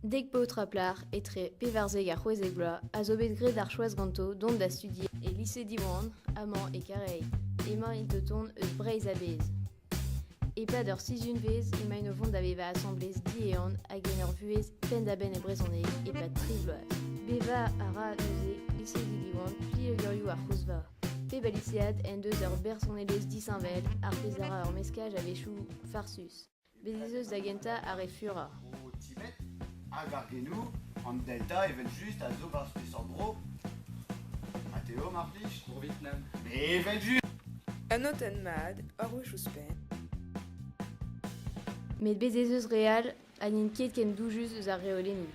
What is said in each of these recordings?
Dek paotr ha plac'h, etre pevarzek ha c'hwezek vloaz, a zo bet graet ar choaz ganto dont da studier e lise Diwan amañ e Kareil. Emaint o tont eus Breizh a-bezh. E-pad ur sizhunvezh emaint o vont da vevañ asambles diehan hag en ur vuhez penn-da-benn e brezhoneg e-pad tri bloaz. Bevañ a ra neuze lizhedi Diwan plieugerioù ar c'hozva. Pep a lisead en deus ur bersonelezh disheñvel, ar pezh a ra ur meskaj a-wechoù farsus. Bez' ez eus da gentañ ar re furañ. O timet hag ar genoù, an Delta evel-just a zo barzh peseurt bro? Ha Teo, mar plij? Bro Vietnam. Me evel-just! Un notenn mat, ur wech ouzhpenn. Met bez' ez eus re all ha n'int ket ken doujus eus ar reolennoù.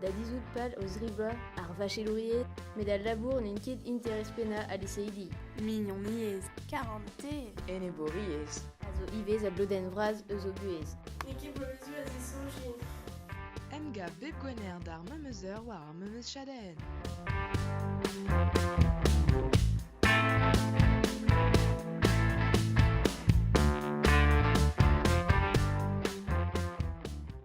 da dizhout pal o zrivañ ar vachelouried met al labour n'int ket interest pennañ al liseidi. Mignoniezh, karante, enebouriezh a zo ivez a blodenn vras eus o buhez. N'eo ket boleuzu a zesoñjin. Emgav bep Gwener d'ar memes heure war ar memes chadenn.